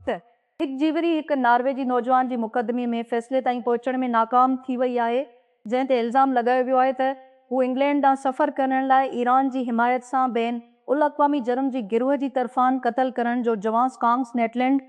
ته هڪ جيوري هڪ نارويجي نوجوان جي مقدمي ۾ فيصلي تائين پهچڻ ۾ ناڪام ٿي وئي آهي جنهن تي الزام لڳايو ويو آهي ته هو انگلينڊ ڏانهن سفر ڪرڻ لاء ايران جي حمايت سان بين الاقوامي جرم جي گروهه جي طرفان قتل ڪرڻ جو جواز ڪانگس نيٽلينڊ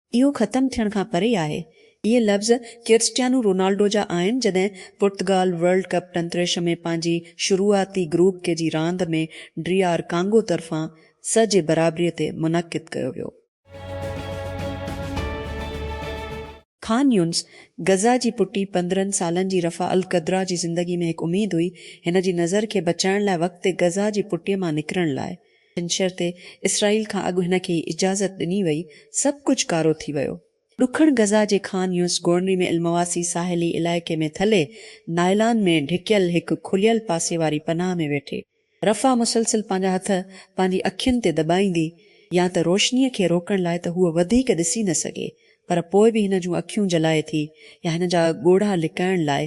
اهو ختم ٿيڻ کان پري آهي. اهي لفظ ڪرسٽيانو رونالڊو جا آهن جڏهن پرتگال ورلڊ ڪپ ٽنتريش ۾ پنهنجي شروعاتي گروپ ڪي جي راند ۾ ڊي آر ڪانگو طرفان سه جي برابري تي منعقد ڪيو ويو. خان يونس، غزه جي پٽي پندرهن سالن جي رفع القدرا جي زندگي ۾ هڪ اميد هئي، هن جي نظر کي بچائڻ لاء وقت تي غزه جي پٽي مان نڪرڻ لاء ڇنڇر تي اسرائيل کان اڳ هن کي هي اجازت ڏني وئي، سڀ ڪجهه ڪارو ٿي ويو. ڏکڻ غزه جي خان يونس گورنري ۾ المواسي ساحلي علائقي ۾ ٿلهي نائلان ۾ ڍڪيل هڪ کليل پاسي واري پناهه ۾ ويٺي رفح مسلسل پنهنجا هٿ پنهنجي اکين تي دٻائيندي يا ته روشنيء کي روڪڻ لاء ته هوء وڌيڪ ڏسي نه سگهي پر پوء به هن جون اکيون جلائي ٿي يا هن جا ڳوڙها لڪائڻ لاء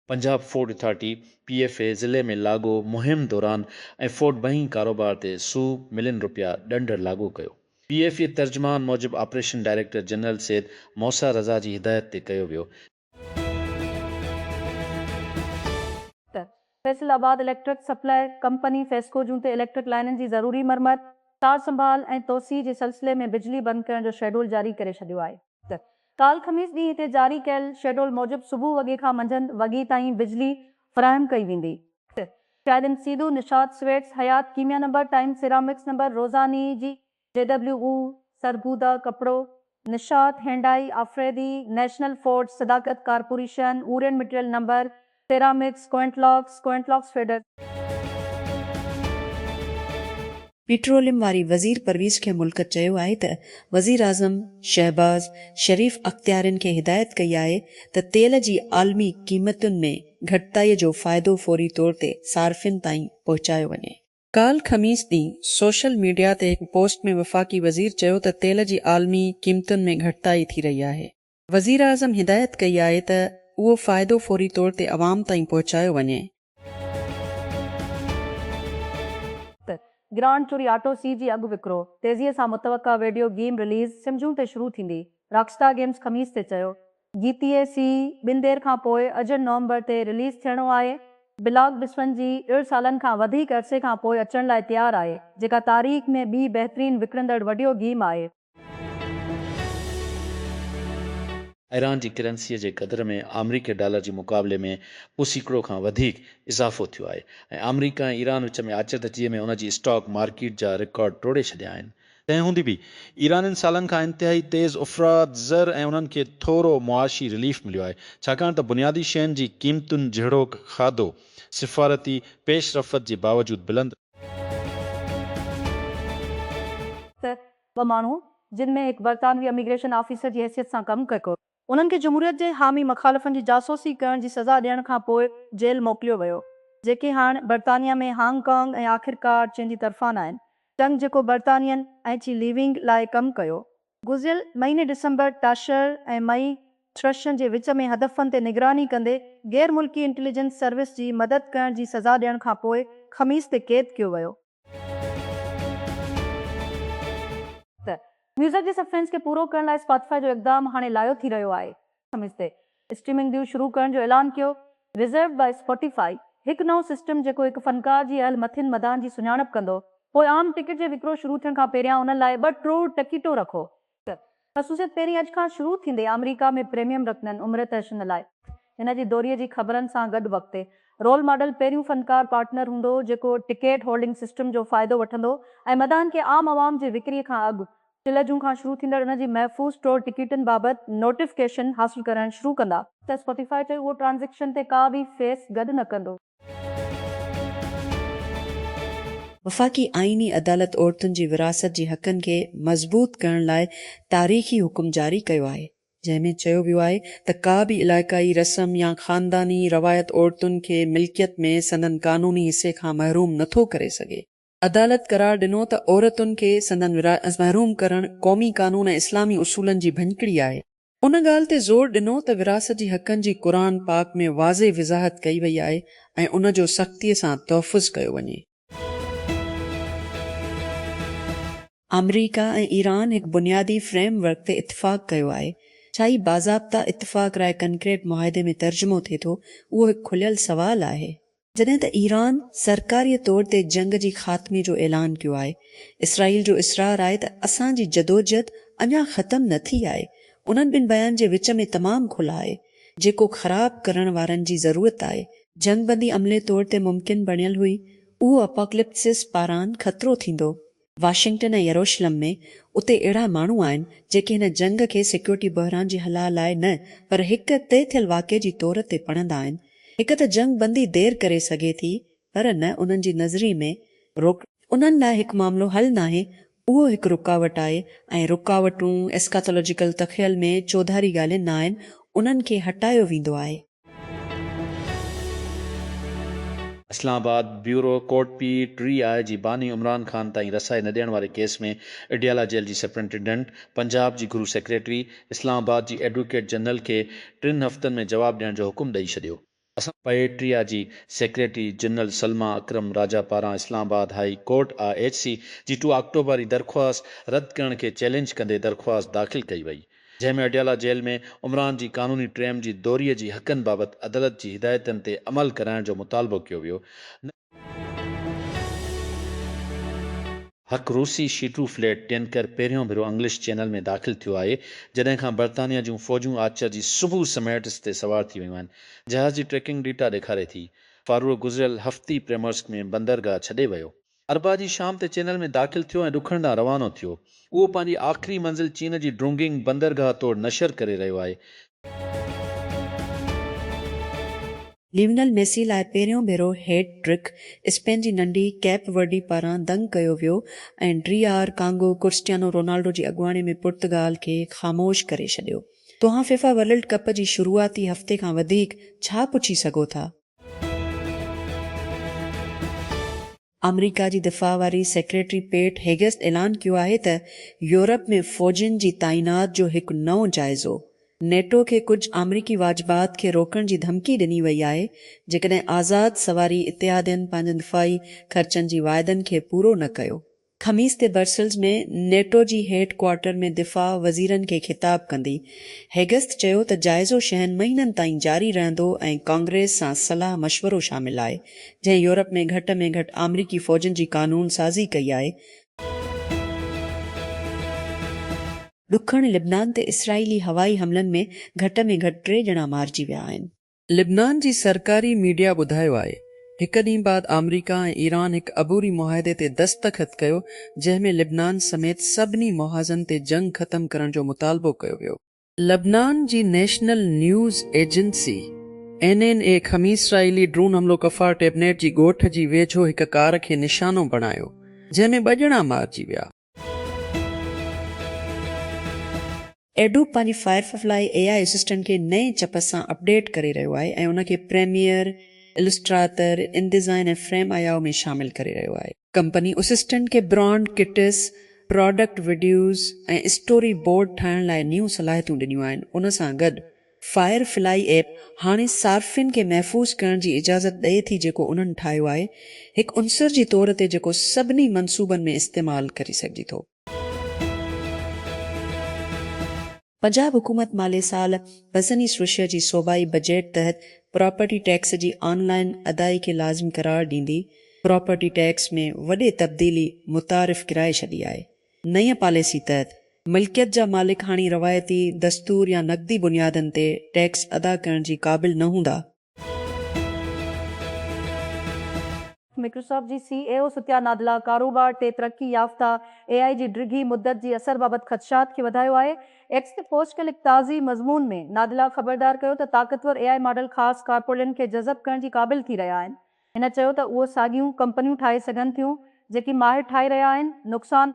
Punjab food authority, P F A, ضلعي ۾ لاڳو مهم دوران ۽ فوڊ بئنڪ ڪاروبار تي سؤ ملين رپيا ڏنڊ لاڳو ڪيو. پي ايف اي ترجمان موجب operation director general Syed Musa Raza جي هدايت تي ڪيو ويو. ته Faisalabad electric supply company FESCO جون تي اليڪٽرڪ لائنن جي ضروري مرمت، سار سنڀال ۽ توسيع جي سلسلي ۾ بجلي بند ڪرڻ جو شيڊول جاري ڪري ڇڏيو آهي. ڪالهه خميس ڏينهن تي جاري ڪيل شيڊول موجب صبح وڳي کان منجهند وڳي تائين بجلي فراهم ڪئي ويندي. شاهدين سيدو، نشاط سويٽس، حيات ڪيميا نمبر، ٽائيم سيرامڪس نمبر، روزاني، جي ڊبليو او، سرگودا ڪپڙو، Nishat, Hyundai, Afridi, national Ford, Sadaqat corporation, اورين مٽيريل نمبر، سيرامڪس، ڪوئنٽ لاڪس، ڪوئنٽ لاڪس ٽريڊرز. پيٽروليم واري وزير پرويز کي ملڪ چيو آهي ته وزيراعظم شهباز شريف اختيارين کي هدايت ڪئي آهي ته تيل جي عالمي قيمتن ۾ گهٽتائي جو فائدو فوري طور تي صارفين تائين پهچايو وڃي. ڪالهه خميس ڏينهن سوشل ميڊيا تي هڪ پوسٽ ۾ وفاقي وزير چيو ته تيل جي عالمي قيمتن ۾ گهٽتائي ٿي رهي آهي. وزيراعظم هدايت ڪئي آهي ته اهو فائدو فوري طور تي عوام تائين پهچايو وڃي. ته گرانڊ چوري آٽو سي جي اڳ وڪرو تيزي سان متوقع ويڊيو گيم رليز سمجون تي شروع ٿيندي راڪ اسٽار گيمز خميس تي چيو جي تي اي سي ٻن دير کان پوء اجهه نومبر تي رليز ٿيڻو آهي بلاڪ بسپن جي ڙڙ سالن کان وڌيڪ عرصي کان پوء اچڻ لاء تيار آهي جيڪا تاريخ ۾ ٻي بهترين وڪڻندڙ وڊيو گيم آهي. ايران جي ڪرنسيء جي قدر ۾ آمريڪي ڊالر جي مقابلي ۾ ٻه سيڪڙو کان وڌيڪ اضافو ٿيو آهي ۽ آمريڪا ۽ ايران وچ ۾ آچردگيء ۾ ان جي اسٽاڪ مارڪيٽ جا رڪارڊ ٽوڙي ڇڏيا آهن. تنهن هوندي به ايرانين سالن کان انتهائي تيز افراط زر ۽ انهن کي ٿورو معاشي رليف مليو آهي، ڇاڪاڻ ته بنيادي شين جي قيمتن جهڙوڪ کاڌو سفارتي پيش رفت جي باوجود بلند. ته ٻه ماڻهو جن ۾ هڪ برطانوي اميگريشن آفيسر جي حيثيت سان ڪم ڪري ڪو. انهن کي جمهوريت جي حامي مخالفن جي جاسوسي ڪرڻ جي سزا ڏيڻ کان پوء جيل موڪليو ويو جيڪي هاڻ برطانيا ۾ هانگ ڪانگ ۽ آخرڪار چين جي طرفان آهن چنگ جيڪو برطانين ۽ چي ليونگ لاء ڪم ڪيو گذريل مهيني ڊسمبر ٽاشر ۽ مئي ٿرشن جي وچ ۾ هدفن تي نگراني ڪندي غير ملڪي انٽيليجنس سروس جي مدد ڪرڻ جي سزا ڏيڻ کان پوء خميس تي قيد ڪيو ويو. ته ميوزڪ جي سفرينس کي پورو ڪرڻ لاء اسپاٽيفائي جو اقدام هاڻي لايو ٿي رهيو آهي خميس تي اسٽريمنگ ديو شروع ڪرڻ جو اعلان ڪيو Reserved by Spotify، هڪ نئون سسٽم جيڪو هڪ فنڪار جي اهل مٿين مداحن جي سڃاڻپ ڪندو پوء عام ٽڪيٽ جي وڪرو شروع ٿيڻ کان پهريان انهن لاء ٻه ٽروڙ ٽڪيٽون رکو. هڪ خصوصيت پهرين اڄ کان شروع ٿيندي آمريڪا ۾ پريميم رکنن عمر تحشن لاء. هن جي دوري جي خبرن سان گڏ وقت تي رول ماڊل پهريون فنڪار پارٽنر هوندو جيڪو ٽڪيٽ هولڊنگ سسٽم جو فائدو وٺندو ۽ مداحن کي عام عوام جي وڪري کان اڳ چلهه جون کان شروع ٿيندڙ ان جي محفوظ ٽور ٽڪيٽن بابت نوٽيفڪيشن حاصل ڪرڻ شروع ڪندا. ته اسپوٽيفائي چيو اهو ٽرانزيڪشن تي ڪا به فيس گڏ نه ڪندو. وفاقي آئيني عدالت عورتن جي ورهاست جي حقن کي مضبوط ڪرڻ لاء تاريخي حڪم جاري ڪيو آهي، جنهن ۾ چيو ويو آهي ته ڪا به علائقائي رسم يا خانداني روايت عورتن کي ملڪيت ۾ سندن قانوني حصي کان محروم نٿو ڪري سگهي. عدالت قرار ڏنو ته عورتن کي سندن وراثت کان محروم ڪرڻ قومي قانون ۽ اسلامي اصولن جي ڀڃڪڙي آهي. ان ڳالهه تي زور ڏنو ته وراثت جي حقن جي قرآن پاڪ ۾ واضح وضاحت ڪئي وئي آهي ۽ ان جو سختيء سان تحفظ ڪيو وڃي. آمريڪا ۽ ايران هڪ بنيادي فريم ورڪ تي اتفاق ڪيو آهي، ڇا هي باضابطه اتفاق راء ڪنڪريٽ معاهدي ۾ ترجمو ٿئي ٿو، اهو هڪ کليل سوال آهي. جڏهن ته ايران سرڪاري طور تي جنگ جي خاتمي جو اعلان ڪيو آهي، اسرائيل جو اصرار آهي ته اسان جي جدوجھد اڃا ختم نه ٿي آهي، انهن ٻن بيان جي وچ ۾ تمام کل آهي، جيڪو خراب ڪرڻ وارن جي ضرورت آهي. جنگ بندي عملي طور تي ممڪن بڻيل هئي، اهو اپاڪلپسس پاران خطرو ٿيندو. واشنگٽن ۽ يروشلم ۾ اتي اهڙا ماڻهو آهن جيڪي هن جنگ کي سيڪيورٽي بحران جي هلاء لاء نه پر هڪ طئي ٿيل واقعي جي طور تي پڙهندا آهن. هڪ ته جنگ بندي دير ڪري سگهي ٿي پر نه انهن جي نظري ۾ روڪڙي. انهن لاء هڪ معاملو حل ناهي اهو هڪ رڪاوٽ آهي ۽ رڪاوٽون Eschatological تخيل ۾ چوڌاري ڳالهين ناهن انهن کي هٽايو ويندو آهي. Islamabad, bureau, court P T I جي باني عمران خان تائين رسائي نه ڏيڻ واري ڪيس ۾ اڊيالا جيل جي سپرنٽنڊنٽ، پنجاب جي گهرو سيڪريٽري، اسلام آباد جي ايڊووڪيٽ جنرل کي ٽن هفتن ۾ جواب ڏيڻ جو حڪم ڏئي ڇڏيو. اسان پي ٽي آء جي سيڪريٽري جنرل سلميٰ اڪرم راجا پاران Islamabad high court I H C جي ٽو آڪٽوبر ري درخواست رد ڪرڻ کي چئلينج ڪندي درخواست داخل ڪئي وئي، جنهن ۾ اڊيالا جيل ۾ عمران جي قانوني ٽريم جي دوري جي حقن بابت عدالت جي هدايتن تي عمل ڪرائڻ جو مطالبو ڪيو ويو نه هڪ روسي شيٽرو فليٽ ٽينڪر پهريون ڀيرو انگلش چينل ۾ داخل ٿيو آهي جڏهن کان برطانيا جون فوجون آچر جي صبح سميٽس تي سوار ٿي ويون آهن جهاز جي ٽريڪنگ ڊيٽا ڏيکاري ٿي فاروق گذريل هفتي پريمورسڪ ۾ بندرگاهه ڇڏي ويو اربع جي شام تي چينل ۾ داخل ٿيو ۽ ڏکڻ ڏانهن روانو ٿيو. اهو پنهنجي آخري منزل چين جي ڊرونگنگ بندرگاهه توڙ نشر ڪري رهيو آهي. ليونل ميسي لاء پهريون ڀيرو هيٽ ٽرڪ، اسپين جي ننڍي ڪيپ ورڊي پاران دنگ ڪيو ويو ۽ D R Congo Cristiano Ronaldo جي اڳواڻي ۾ پرتگال کي خاموش ڪري ڇڏيو. توهان فيفا ورلڊ ڪپ جي شروعاتي هفتي کان وڌيڪ ڇا پڇي سگهو ٿا؟ آمريڪا جي دفاع واري سيڪريٽري پيٽ هيگسٽ اعلان ڪيو آهي ته يورپ ۾ فوجين جي تعينات جو هڪ نئون جائزو، نيٽو کي ڪجهه آمريڪي واجبات کي روڪڻ جي ڌمڪي ڏني وئي آهي جيڪڏهن آزاد سواري اتحادين پنهنجن دفاعي خرچن جي واعدن کي پورو نه ڪيو. خميس تي برسلز ۾ نيٽو جي هيڊ ڪوارٽر ۾ دفاع وزيرن کي خطاب ڪندي هيگسٿ چيو ته جائزو شهن مهينن تائين جاري رهندو ۽ ڪانگريس سان صلاح مشورو شامل آهي جنهن يورپ ۾ گهٽ ۾ گهٽ آمريڪي فوجن جي قانون سازي ڪئي آهي. ڏکڻ لبنان تي اسرائيلي هوائي حملن ۾ گهٽ ۾ گهٽ ٽي ڄڻا مارجي ويا آهن. لبنان جي سرڪاري ميڊيا ٻڌايو آهي هڪ ڏينهن بعد آمريڪا ۽ ايران هڪ عبوري معاهدي تي دستخط ڪيو جنهن ۾ لبنان سميت سڀني محاذن تي جنگ ختم ڪرڻ جو مطالبو ڪيو ويو. لبنان جي national news agency, N N A, خميس اسرائيلي ڊرون حملو ڪفار ٽيبنيٽ جي ڳوٺ جي ويجهو هڪ ڪار کي نشانو بڻايو جنهن ۾ ٻه ڄڻا مارجي ويا. ايڊوب پنهنجي فائرفف لاء اي آء اسسٽنٽ کي نئين چپس سان اپڊيٽ ڪري رهيو آهي ۽ ان کي پريميئر، السٽراتر، ان ڊيزائن ۽ فريم آيائو ۾ شامل ڪري رهيو آهي. ڪمپني اسسٽنٽ کي brand kits, product videos ۽ story board ٺاهڻ لاء نيون صلاحيتون ڏنيون آهن. ان سان گڏ فائر فلائي ايپ هاڻي صارفين کي محفوظ ڪرڻ جي اجازت ڏئي ٿي جيڪو انهن ٺاهيو آهي هڪ عنصر جي طور تي جيڪو سڀني منصوبن ۾ استعمال ڪري سگهجي ٿو. پنجاب حڪومت مالي سال بسني سوشيا جي صوبائي بجيٽ تحت پراپرٽي ٽيڪس جي آن لائن ادائي کي لازمي قرار ڏيندي پراپرٽي ٽيڪس ۾ وڏي تبديلي متعارف ڪرائي ڇڏي آهي نئين پاليسي تحت ملڪيت جا مالڪ هاڻي روايتي دستور يا نقدي بنيادن تي ٽيڪس ادا ڪرڻ جي قابل نه هوندا. مائڪروسافٽ جي سي اي او ستيا نادلا ڪاروبار تي ترقي يافته اي آء جي ڊگهي مدت جي اثر بابت خدشات کي وڌايو آهي. ايڪس تي پوسٽ ڪيل هڪ تازي مضمون ۾ نادلا خبردار ڪيو ته طاقتور اي آء ماڊل خاص ڪارپوريٽن کي جذب ڪرڻ جي قابل ٿي رهيا آهن. هن چيو ته اهو ساڳيون ڪمپنيون ٺاهي سگهن ٿيون جيڪي ماهر ٺاهي رهيا آهن، نقصان.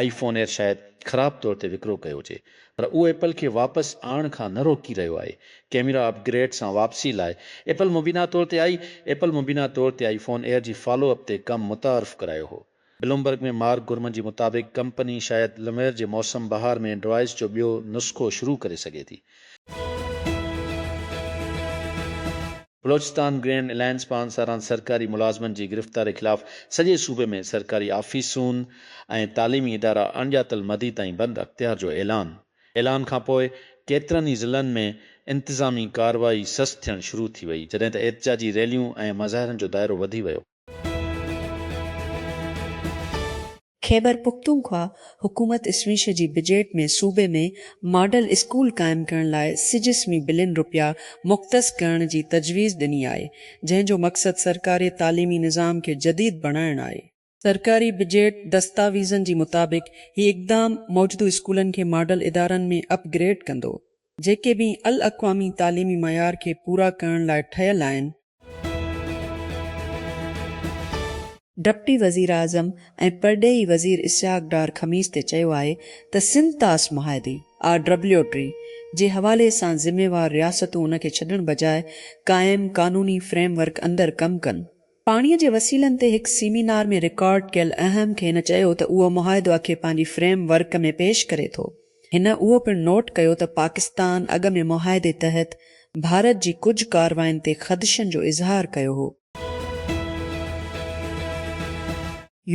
آئي فون ايئر شايد خراب طور تي وڪرو ڪيو هجي پر اهو ايپل کي واپس آڻڻ کان نه روڪي رهيو آهي، ڪيميرا اپ گريڊ سان واپسي لاء ايپل مبينا طور تي آئي ايپل مبينا طور تي آئي فون ايئر جي فالو اپ تي ڪم متعارف ڪرايو هو. بلومبرگ ۾ مارڪ گورمن جي مطابق ڪمپني شايد لمير جي موسم بهار ۾ ڊرائيس جو ٻيو نسخو شروع ڪري سگهي ٿي. بلوچستان گرينڊ الائنس پان ساران سرڪاري ملازمن جي گرفتاري خلاف سڄي صوبي ۾ سرڪاري آفيسون ۽ تعليمي ادارا اڻڄاتل مدي تائين بند اختيار جو اعلان اعلان کانپوء ڪيترن ئي ضلعن ۾ انتظامي ڪارروائي سست ٿيڻ شروع ٿي وئي جڏهن ته احتجاجي ريليون ۽ مظاهرن جو دائرو وڌي ويو. خيبر پختونخوا حڪومت اسويش جي بجيٽ ۾ صوبي ۾ ماڊل اسڪول قائم ڪرڻ لاء سج سوين بلين رپيا مختص ڪرڻ جي تجويز ڏني آهي، جنهن جو مقصد سرڪاري تعليمي نظام کي جديد بڻائڻ آهي. سرڪاري بجيٽ دستاويزن جي مطابق هي اقدام موجودو اسڪولن کي ماڊل ادارن ۾ اپ گريڊ ڪندو، جيڪي بين الاقوامي تعليمي معيار کي پورا ڪرڻ لاء ٺهيل آهن. ڊپٽي وزيراعظم ۽ پرڏيهي وزير اسحاق ڊار خميس تي چيو آهي ته سنڌ طاس معاهدي، RWTREE، جي حوالي سان ذميوار رياستون ان کي ڇڏڻ بجاء قائم قانوني فريم ورڪ اندر ڪم ڪن. پاڻيء جي وسيلن تي هڪ سيمينار ۾ رڪارڊ ڪيل اهم کي هن چيو ته اهو معاهدو اکي پنهنجي فريم ورڪ ۾ پيش ڪري ٿو. هن اهو پڻ نوٽ ڪيو ته پاڪستان اڳ ۾ معاهدي تحت ڀارت جي ڪجهه ڪاررواين تي خدشن جو اظهار ڪيو هو.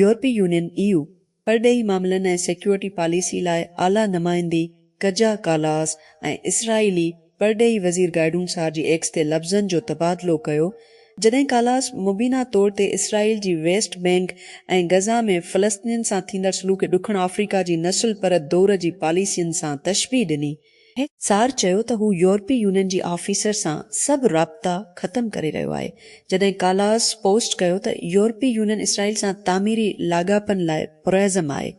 يورپي يونين، اي يو، پرڏيهي معاملن ۽ سيڪيورٽي پاليسي لاء اعليٰ نمائندي ڪجا ڪالاس ۽ اسرائيلي پرڏيهي وزير گائڊون سار جي ايڪس تي لفظن جو تبادلو ڪيو، جڏهن ڪالاس مبينا طور تي اسرائيل جي ويسٽ بينڪ ۽ غزه ۾ فلسطينين سان ٿيندڙ سلوڪ ڏکڻ آفريڪا جي نسل پرد دؤر جي پاليسين سان تشبيهه ڏني. هڪ سار چيو ته هو يورپي يونين جي آفيسر سان سڀ رابطا ختم ڪري رهيو آهي، جڏهن ڪالاس پوسٽ ڪيو ته يورپي يونين اسرائيل سان تعميري لاڳاپن لاء پرعزم آهي.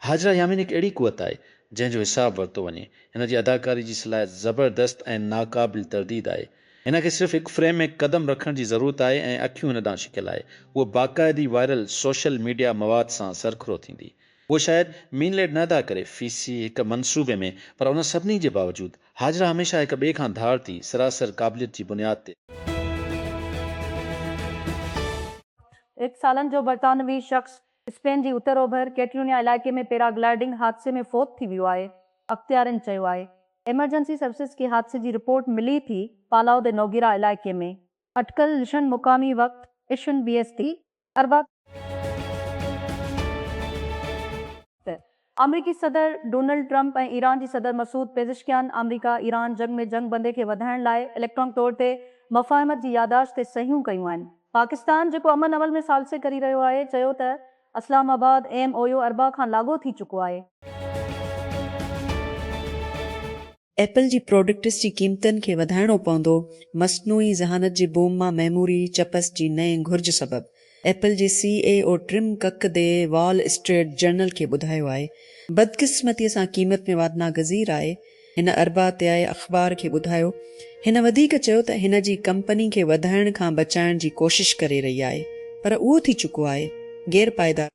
هاجره يامين هڪ اهڙي قوت آهي، جنهن جو حساب ورتو وڃي. هن جي اداڪاري جي صلاحيت زبردست ۽ ناقابل ترديد آهي. هن کي صرف هڪ فريم ۾ قدم رکڻ جي ضرورت آهي ۽ اکيون هن ڏانهن شڪيل آهي. هوء باقاعدي وائرل سوشل ميڊيا مواد سان سرخرو ٿيندي. اهو شايد مين ليڊ نه ادا ڪري في سي هڪ منصوبي ۾، پر ان سڀني جي باوجود، هاجرا هميشه هڪ ٻئي کان ڌار ٿي، سراسر قابليت جي بنياد تي. ايڪ سالن جو برطانوي شخص اسپين جي اتر اوڀر ڪيٽلونيا علائقي ۾ پيراگلائيڊنگ حادثي ۾ فوت ٿي ويو آهي، اختيارين چيو آهي. ايمرجنسي سروسز کي حادثي جي رپورٽ ملي ٿي، پالاو دي نوگيرا علائقي ۾ اٽڪل لشن مقامي وقت اشن بي ايس تي اربع تي آمريڪي صدر ڊونلڊ ٽرمپ ۽ ايران جي صدر مسعود پيزشڪيان آمريڪا ايران جنگ ۾ جنگ بندي کي وڌائڻ لاء اليڪٽرانڪ طور تي مفاهمت جي ياداشت تي صحيحون ڪيون آهن پاڪستان جيڪو امن عمل ۾ ثالثي ڪري رهيو آهي چيو ته اسلام آباد ايم اويو اربع کان لاڳو ٿي چڪو آهي. ايپل جي پراڊڪٽس جي قيمتن کي وڌائڻو پوندو، مصنوعي ذهانت جي بوم مان ميموري چپس جي نئين گهرج سبب، ايپل جي سي اي O Tim Cook the Wall Street Journal کي ٻڌايو آهي. بدقسمتي سان قيمت ۾ وادناگذير آهي، هن اربعتيائي اخبار کي ٻڌايو. هن وڌيڪ چيو ته هن جي ڪمپني کي وڌائڻ کان بچائڻ جي ڪوشش ڪري رهي آهي پر اهو ٿي چڪو آهي، غير پائيدار.